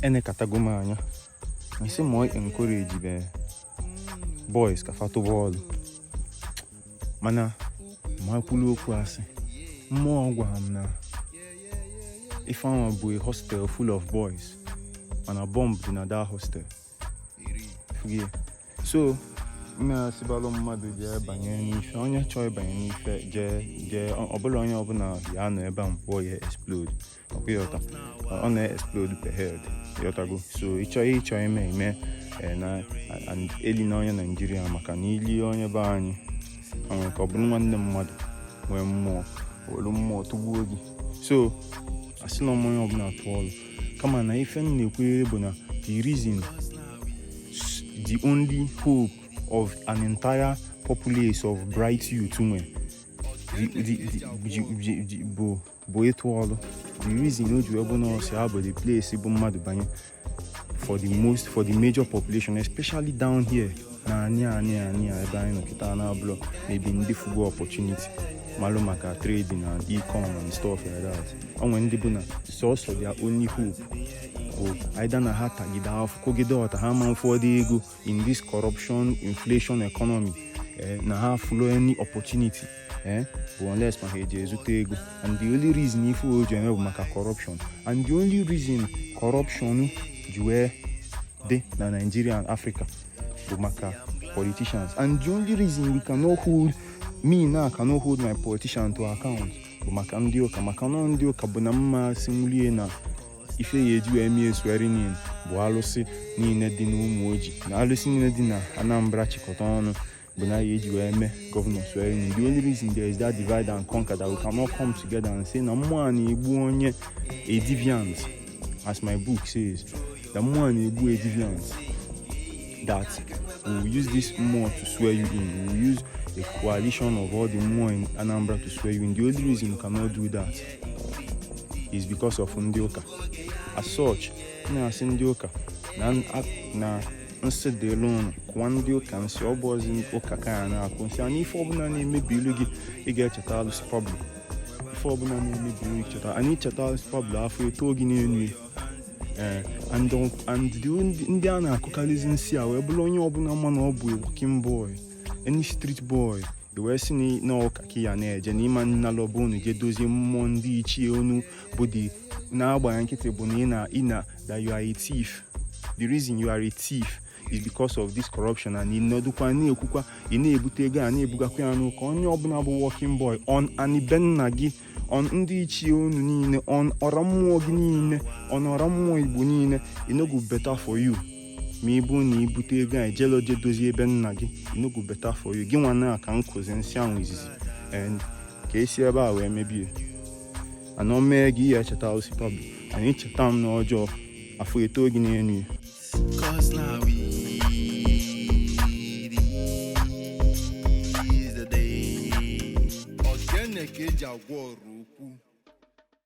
enekatago m anya m sị mụ encourage my boys ka fa tụba ọlụ mana ma kwulu okwu asị mmụọ gwara m na ife ahụ bụ a hostel full of boys mana bomb dị na the hostel so na-asịbalụ mmadụ jee banye n'ife onye chọọ ịbanye n'ife jee jee ọbụla onye ọbụla ya nọ ebe a mkpụọ ya explode ọkwa ya ọta ọ na-explode per head ị ghọtago so ịchọ ịchọ ime ime eh, na eli na onye naijiria maka na ili onye be anyị nwere ka ọ bụrụ nwanne mmadụ nwee mmụọ were mmụọ tụgbuo gị so asị na ọ mụ onye ọbụla tụọ ọrụ kama na ife m na-ekwu bụ na the reason the only hope of an entire populace of bright youth nwe bụ bụ ịtụ ọrụ the reason o ji wee bụ na ọsị ha bụ the place bụ mmadụ banye for the most for the major population especially down here na anyị anyị anyị ebe anyị nọ kịta na abụlọ ebe ndị fụgo opportunity malụ maka trading na ecom and stuff like that o nwe ndị bụ na sọsọ their only hope bụ either na ha tagide afọ kogide ọta ha ma ụfọdụ ego in this corruption inflation economy eh, na ha fụlọ any opportunity eh, bụ unless ma ha eji ezute ego and the only reason ife o ji eme bụ maka corruption and the only reason corruption ji wee dị na Nigeria and Africa bụ maka politicians and the only reason we cannot hold mụnwa cannot hold my politician to account bụ maka ndị ụka maka na ndị ụka bụ na m ma-asịnwulie na ife a ya-eji wee mie swearing in bụ alụsị niile dị n'Umuoji na alụsị niile dị na Anambra chịkọta ọnụ bụ na a ya-eji wee mee governor swearing in the only reason there is that divide and conquer that we cannot come together and say na mmụọ a na-egbu onye a deviant as my book says na mmụọ a na-egbu a deviant that we will use this mmụọ to swear you in we will use a coalition of all the mmụọ in Anambra to swear you in the only reason we cannot do that is because of ndị ụka as such na-asị ndị ụka na nsị dịlụ ụnụ kụwa ndị ụka nsị ọ bụ ọzi ụka ka a na-akụ nsị anyị ife ọbụla na-emebilu gị ị ga-echeta alụsị pablo ife ọbụla na-emebilu gị cheta anyị cheta alụsị pablo afọ eto gị n'elu ya ee and ọ- and the ndị- ndị a na-akụkarịzi nsị a wee bụrụ onye ọbụla ma na ọ bụ a working boy any street boy i wee sị na- na ọ ụka ka ị ya na-eje na ị ma-analu obu unu je dozie mmụọ ndị ichie unu bụ ịdị na-agba ya nkịtị bụ na ị na ị na that you are a thief the reason you are a thief is because of this corruption and ịnọdụkwa na-ekwukwa ị na-ebute ego a na-ebugakwa ya n'ụka onye ọbụla bụ working boy on ani be nna gị on ndị ichie unu niile on ọra mmụọ gị niile on ọra mmụọ igbo niile e no go better for you ma ọ bụrụ na i bute ego a ijele oje dozie ebe nna gị e no go better for you gị nwa na ka m kụzi nsị ahụ izizi and ka e si ebe a wee mebie anọ mee gị ihe echeta osikwa bụ anyị cheta m n'ọjọọ afọ etoo gị n'elu ụwa Cause now we is the day. Ogene ka e ji agwọ ọrụ